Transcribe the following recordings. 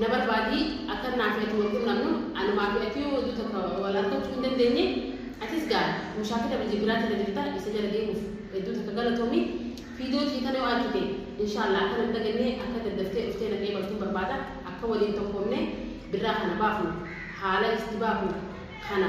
Na barbaadi, akkan naa fi ati wal qunnamnu, anumaa fi ati yoo oduu takka wal arkachuu hin dandeenye, atis gaa mushaakila biyya biraati irra jirta, isa jala deemuuf hedduu takka galatoomi, fiidoo tiyya tana yoo arkite, inshaallaa akka nan daganne, akka daddaftee dhuftee na qeebaltun barbaada, akka waliin tokkoomne birraa kana baafnu, haala itti baafnu kana.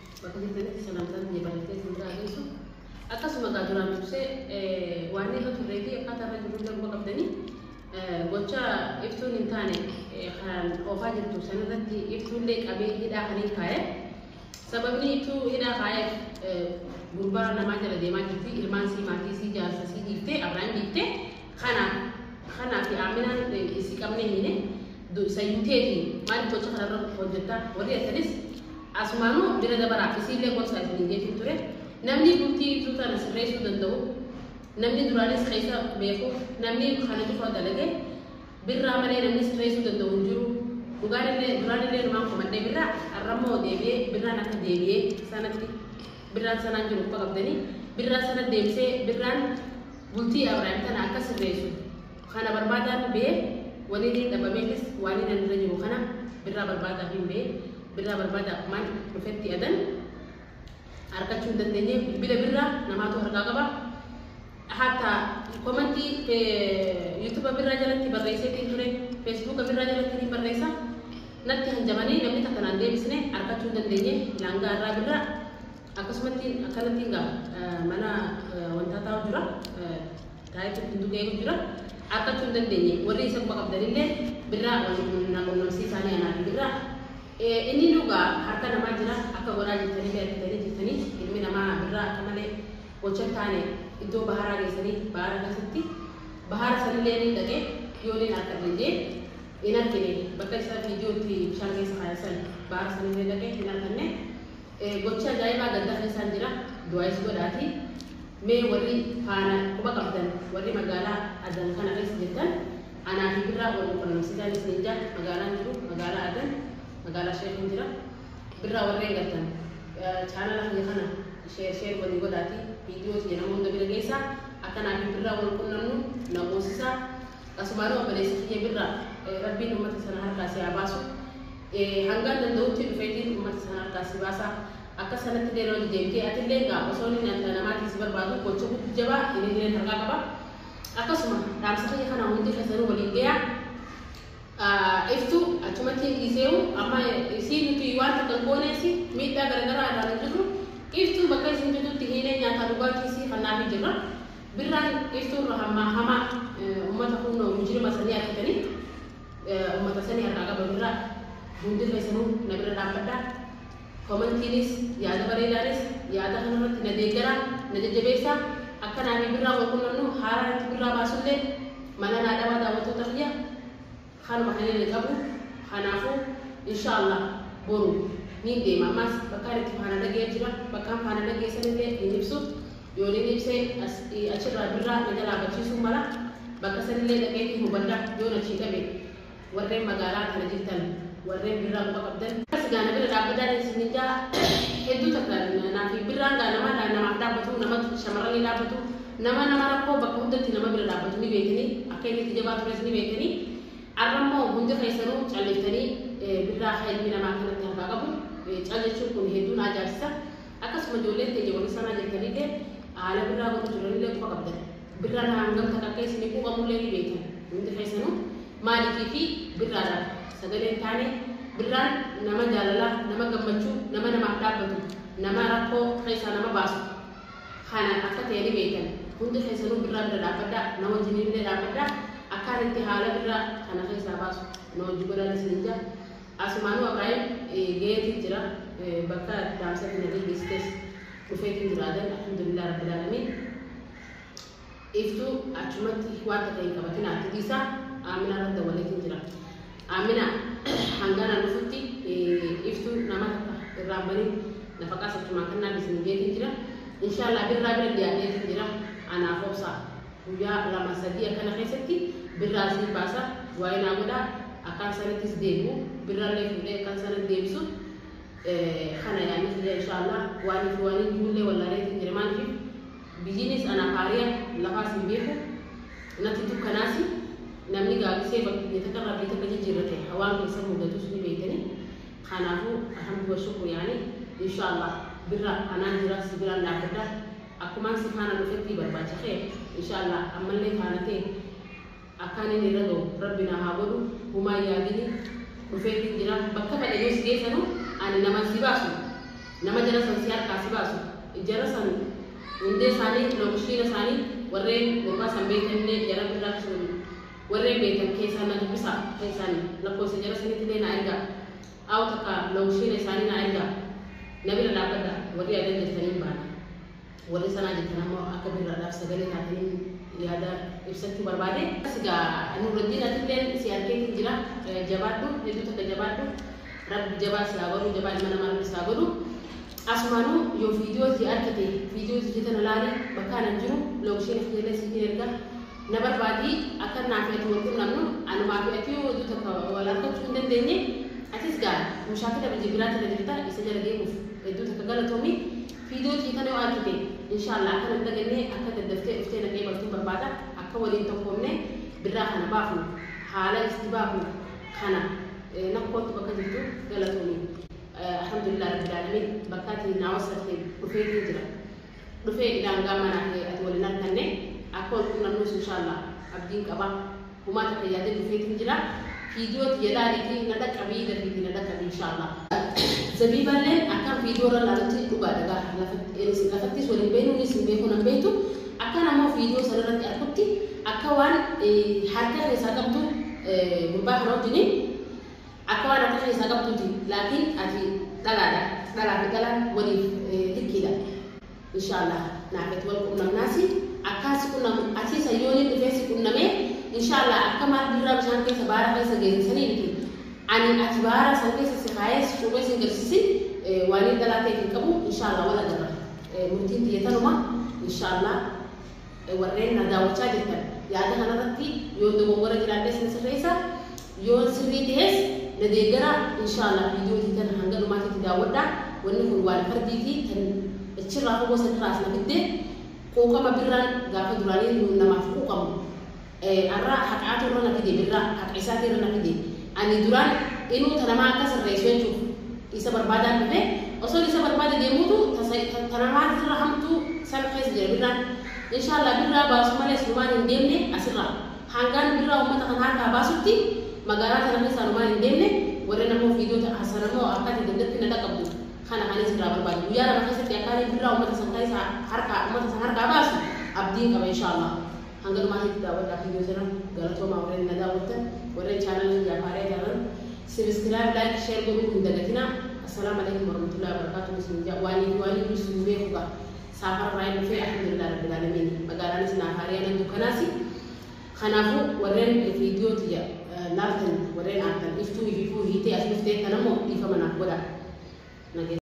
bakka jirtanitti salaamtaan tiyya barreessee isin biraa geessu. Akkasuma egaa duraan dursee waan irra turree fi akkaataa irra jirru illee quba qabdanii gocha iftuun hin taane kan oofaa jirtu san irratti iftuullee qabee hidhaa kan hin kaa'e. Sababni iftuu hidhaa kaa'eef gurbaa namaa jala deemaa jirti ilmaan sii maatii sii jaarsa sii dhiiftee abraan dhiiftee Kana kanaafi Aaminaan isii qabnee hiine sayyuu teeti maaliif gocha kanarra hojjetta warri jettanis asumaanuu bira dabaraa isiillee gorsaa isinii jeetiin ture namni bultii ibsuu tana sirreessuu danda'u namni duraanis keessa beeku namni kana cufa dalage birraa malee namni sirreessuu danda'u hin jiru dhugaan illee duraan illee numaan komadhee birraa arrammoo deebi'ee birraan akka deebi'ee sanatti birraan sanaan jiru uffaa qabdanii birraa sana deebisee birraan Bultii Abrahim tana akka sirreessu kana barbaadaafi bee wanini dhabameefis waaniin an irra jiru kana birraa barbaadaafiin bee birraa barbaada akkumaan dhufetti adan arkachuu hin dandeenye bilbila birraa namaatu harkaa qaba hatta komanti yuutuba birraa jalatti barreesseetiin ture feesbuuka birraa jalatti ni barreessa natti hanjamanii namni takka naan deebisne arkachuu hin dandeenye laangaa irraa birraa Akkasumatti akkanatti egaa mana wantaa taa'u jira taa'etti ittiin tuqeeru jira argachuu hin dandeenye warri isa quba qabdanillee birraa na qunnamsiisaanii anaa fi birraa inni dhugaa harka namaa jira akka godhaa jirtanii beektanii jirtanii ilmi namaa birraa akka malee gocha taane iddoo baharaa geessanii bahara keessatti bahara sanillee ni dhaqee yoo ni harka dhagee hin argine bakka isaa viidiyootti bishaan keessa kaayessan bahara sanillee dhaqee hin arganne Gocha ajaa'ibaa gaddaa keessaan jira du'aayis godhaati mee warri faana quba qabdan warri magaalaa adan kana keessa jirtan anaa fi birraa wal qunnamsitaan isiniin jaa magaalaan jiru magaalaa adan magaalaa sheekin jira birraa warreen galtan chaanala kiyya kana sheer sheer walii godhaati viidiyoo tiyya nama hunda bira geessa akka naa fi birraa wal qunnamnu na goosisa asumaanuu obboleessa kiyya birraa rabbiin ummata sana harkaa si haa baasu Ee, hangan danda'utti dhufeetiin ummata san harkaa si baasa. Akka sanatti illee lola deemtee atilleen gaa osoo inni nyaata namaatiin si barbaadu gocha guddi jabaa ininilleen harkaa qaba. Akkasuma dhaamsa kiyya kana hundi keessanuu waliin geeya. Ah, Iftu achumatti hin dhiiseewu amma isii nuti waan takka hin gooneesi miidhaa garagaraa irraa hin jirru. Iftu bakka isin jirtutti hiinee nyaataa dhugaatii isii kannaafii jirra. Birraan iftu irra hammaa hamaa eh, ummata kunnoo mujirima sanii argitanii. ummata sani harkaa qaba birraa hundi keessanuu na bira dhaabbadha komantiinis yaada bareedaanis yaada kanarratti na deeggara na jajjabeessa akka naafii birraa wal qunnamnu haaraa irratti birraa baasullee mana naa dhabaa daawwattoota kiyya kanuma kan inni qabu kanaafuu insha allah boru niin deema ammaas bakkaan itti faana dhagee jira bakkaan faana dhagee sanillee hin ibsu Yooniin Ibsee as i achi irraa birraa na jalaa bachiisuu mala, bakka san illee dhaqeetiin hubadha, yoon achii dhabe warreen magaalaa tana jirtan warreen birraa quba qabdan, asi gaa na bira dhaabbadhaatiin isiniin ja'a, hedduu takka naafi birraan gaa nama namaaf dhaabbatu, nama shamarranii dhaabbatu, nama nama rakkoo bakka hundatti nama bira dhaabbatu ni beeytanii, akka inni itti jabaa tures ni beeytanii, arra immoo hundi keessanuu calliftanii birraa ka ilmi namaa akkanatti harkaa qabu cal jechuun kun hedduu na ajaa'ibsiisa. Akkasuma ijoolleen teenya wani saraa jettaniille aala birraa godhu jiranille quba qabdan. Birra irraa hangam takka akka isini quuqamulle ni beetan. Hundi keessanu maalifi fi birraa dhaaf sagalee hin taane? Birraan nama jaalalaa, nama gammachu, nama namaaf dhaabbatu, nama rakkoo keessaa nama baasu kana akka ta'e ni beetan. Hundi keessanu birraa bira dhaabbadha, na wajjiniille dhaabbadha. Akkaan itti haala birraa kana keessaa baasu na wajji godhaan isinin ja'a. Asumaanuu Abiraahim gayeetiin jira bakka dhaamsatti nabii geessitees dhufeetiin jira adan alhamdulillah rabbil aalamiin iftuu achumatti waan takka hin qabatinaa itti dhiisaa aaminaa irra dawwaleetiin jira aaminaa hangaanaan dhufutti iftuu nama takka irraan banii nafaqaas achumaan kannaa bisin jeetiin jira inshaallah birraa bira dhiyaadheetiin jira anaaf obsaa Guyyaa lama sadii akkana keessatti birraa isinif baasa du'aayi naa godhaa akkaan sanittis deebi'u birrallee fuudhee akkaan sanatti deebisu kana yaanni kiyya inshaallah waanii fi waanii jiruullee wallaaleetiin jira maaliif biyyiinis anaaf haariya lafaas hin beeku natti dukkanaasi namni gaabisee bakkiyya takka rabbii takka jijjiirrate hawaan keessa mudatus ni beektanii kanaafuu alhamdu wa shukru yaani inshaallah birra anaan jira si biraan dhaabbadha Akkumaan si faana dhufettii barbaacha kee inshallah ammallee faana kee akkaan inni irra gahu rabbi naa haa godhu humaa hin yaadini dhufeetiin jira bakka fedhe yoo si geessanu ani naman si baasu nama jara san si harkaa si baasu jara san hundee isaanii lookishiina isaanii warreen gurbaa san beeytan illee jara birraa sun warreen beeytan keessaan na dubbisaa keessaan lakkoofsa jara saniitillee naa ergaa Aw takka lokshiina isaanii naa ergaa na bira dhaabbadha warri yaadan jirtan hin baana warri sanaa jettan ammoo akka birraadhaaf sagalee taataniin yaada ibsachuu barbaade. Asi gaa Nuurraddiin atilleen si arkeetiin jira jabaadhu hedduu takka jabaadhu rabbi jabaa si haa godhu jabaa ilma namaa rabbi si haa godhu asumaanuu yoo viidiyoo tiyya arkite viidiyoo tiyya tana laali bakkaan an jiru lokshiina kiyyallee siifin erga Na barbaadi, akka anaa fi ati wal qunnamnu, anumaa fi ati yoo oduu takka wal harkachuu hin dandeenye, atis gaa mushaakila biyya biraati irra jirta, isa jala deemuuf hedduu takka galatoomi. Fiidoo tiyya tana yoo argite, inshaallaa akka na hin daganne, akka daddaftee dhuftee na qeebaltuun barbaada, akka waliin tokkoomnee birraa kana baafnu, haala itti baafnu kana na koottu bakka jirtu, galatoomi. Alhamdulillah Rabbil Aalamiin, bakka ati naa wassafteen dhufeetiin jira. dhufee idaa hangaa manaa kee ati wal hin arkanne akka wal qunnamnuus inshaallaa abdiin qaba humaa takka yaadeen dhufeetin jira fiidiyoo tiyya laaliitii na dhaqqabii dafiitii na dhaqqabii inshaallaa. Zabiibaalleen akkan fiidiyoo irra laalutti dhugaa dhagaa lafatti lafattis wal hin beeknu innis hin beekuu nan beektu akkan ammoo fiidiyoo sana irratti arkutti akka waan harka keessaa qabdu gurbaa kana wajjiniin Akka waan harka keessaa qabduuti laakii ati dhalaadha dhalaa fi dhalaan waliif likkiidha inshaallaah naafeet wal qunnamnaasi akkaa si qunnamu atii san yoo nin dhufee si qunnamee inshaallaah akka maal birraa bishaan keessa baara keessa geesse sanii miti ani ati baara san keessa si kaayee si cuubee sin galchisin waaniin dhalaa ta'e hin qabu inshaallaah wal agarra murtiin tiyya tanuma inshaallaah Warreen na daawwachaa jirtan yaada kanarratti yoon dogongora jiraadhes na sirreessaa, yoon sirrii tahes na deeggaraa, inshaa allaah viidiyoo tee tana hanga dhumaatitti daawwadhaa, wanni kun waan fardiiti tan dachirraa fagoo sanirraa as na fidde, quuqama birraan gaafa duraanii nuun namaaf quuqamu. Arraa haqaatu irra na fide birraa haqa isaatii irra na fide ani duraan inuu ta namaa akka sirreessu jechuuf isa barbaadaan dhufe osoon isa barbaade deemuutu ta ta namaa irra hamtuu san keessa jira birraan inshaallaa birraa baasu malee silumaan hin deemne asirraa haangaan birraa ummata kana harkaa baasutti magaalaa tana keessa anumaan hin deemne warren ammoo viidiyoo ta hasan ammoo akka ati dandatti na dhaqabdu kana kanin sirraa barbaade guyyaa lama keessatti akkaanii birraa ummata san keessa harkaa ummata san harkaa baasu abdiin qaba inshaallaa Hanga dhumaati itti daawwadhaa video tana galatoomaa warreen na daawwattan warreen channel kiyyaaf haaraa taatan sibisciraayib like share godhuu hin dagatinaa Assalaam alaikum warahmatullahi wabarakatuh isin jaa waaliin waaliin dursu hin beeku gaa saafara irraa hin dhufee alhamdulillah rabbil aalamiin magaalaanis naaf haariyaa nan dukkanaasi kanaafuu warreen video tiyya laaltan warreen aartan iftuu ififuu hiitee as dhuftee tanammoo dhiifama naaf godhaa